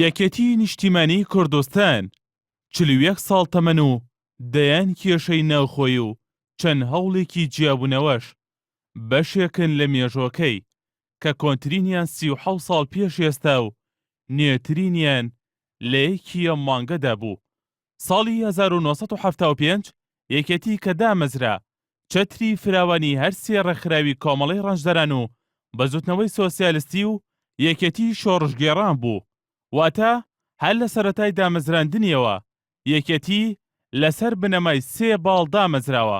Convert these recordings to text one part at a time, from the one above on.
یەکێتیی نیشتیمانیی کوردستان چل و یەک ساڵ تەمەن و دەیان کێشەی ناوخۆی و چەند هەوڵێکی جیابوونەوەش بەشێکن لە مێژۆکەی کە کۆنترینیان سی و حەوت ساڵ پێش ئێستا و نوێترینیان لە یەکی یەم مانگەدا بوو ساڵی هەزار و نۆ سەد و حەفتا و پێنج یەکێتی کە دامەزرا، چەتری فراوانی هەر سێ ڕێکخراوی کۆمەڵەی ڕەنجدەران و بزوتنەوەی سۆسیالستی و یەکێتی شۆڕشگێڕان بوو، واتە هەر لە سەرەتای دامەزراندنیەوە یەکێتی لەسەر بنەمای سێ باڵ دامەزراوە.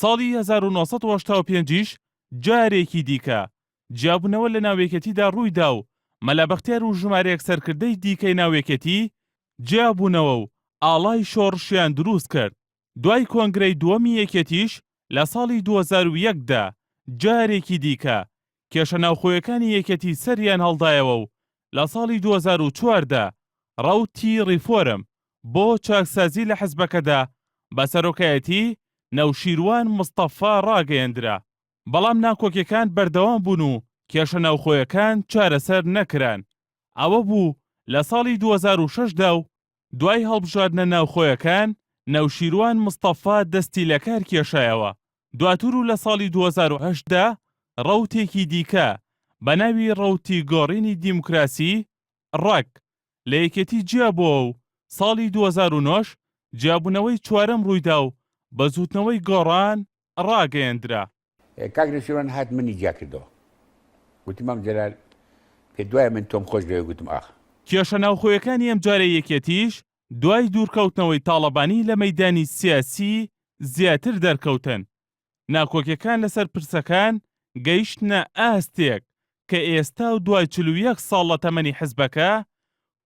ساڵی هەزار و نۆ سەد و هەشتا و پێنج یش جارێکی دیکە جیابونەوە لە ناو یەکێتیدا ڕوویدا و مەلا بەختیار و ژمارەیەک سەرکردەی دیکەی ناو یەکێتی جیابونەوە و ئاڵای شۆڕشیان دروست کرد. دوای کۆنگرەی دووەمی یەکێتیش لە ساڵی دوو هەزار و یەک دا جارێکی دیکە کێشە ناوخۆیەکانی یەکێتی سەریان هەڵدایەوە و لە ساڵی دوو هەزار و چواردە ڕەوتی ڕیفۆرم بۆ چاکسازی لە حزبەکەدا بە سەرۆکایەتی نەوشیروان مستەفا ڕاگەیەندرا، بەڵام ناکۆکیەکان بەردەوام بوون و کێشە ناوخۆیەکان چارەسەر نەکران، ئەوە بوو لە ساڵی دوو هەزار و شەش دا و دوای هەڵبژاردنە ناوخۆیەکان، نەوشیروان مستەفا دەستی لەکار کێشایەوە، دواتر و لە ساڵی دوو هەزار و هەشت دا ڕەوتێکی دیکە بە ناوی ڕەوتی گۆڕینی دیموکراسی، ڕەگ، لە یەکێتی جیابووەوە و ساڵی دوو هەزار و نۆ ش جیابوونەوەی چوارەم ڕوویدا و بەزووتنەوەی گۆڕان، ڕاگەیەندرا. کاک نەوشیروان هات منی جیا کردەوە گوتی مام جەلال پێت وایە من تۆم خۆش دەوێت گوتم ئاخ. کێشە ناوخۆیەکانی ئەمجارەی یەکێتیش دوای دوورکەوتنەوەی تاڵەبانی لە مەیدانی سیاسی زیاتر دەرکەوتن، ناکۆکیەکان لەسەر پرسەکان گەیشتنە ئاستێک کە ئێستا و دوای چل و یەک ساڵ لە تەمەنی حزبەکە،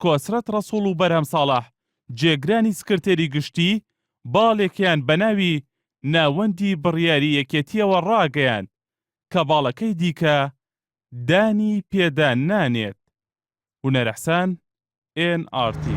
کۆسرەت ڕەسوڵ و بەرهەم ساڵح جێگرانی سکرتێری گشتی، باڵێکیان بە ناوی ناوەندی بڕیاری یەکێتییەوە ڕاگەیاند کە باڵەکەی دیکە دانی پێدا نانێت. هونەرئحسان، ئێن ئاڕ تی.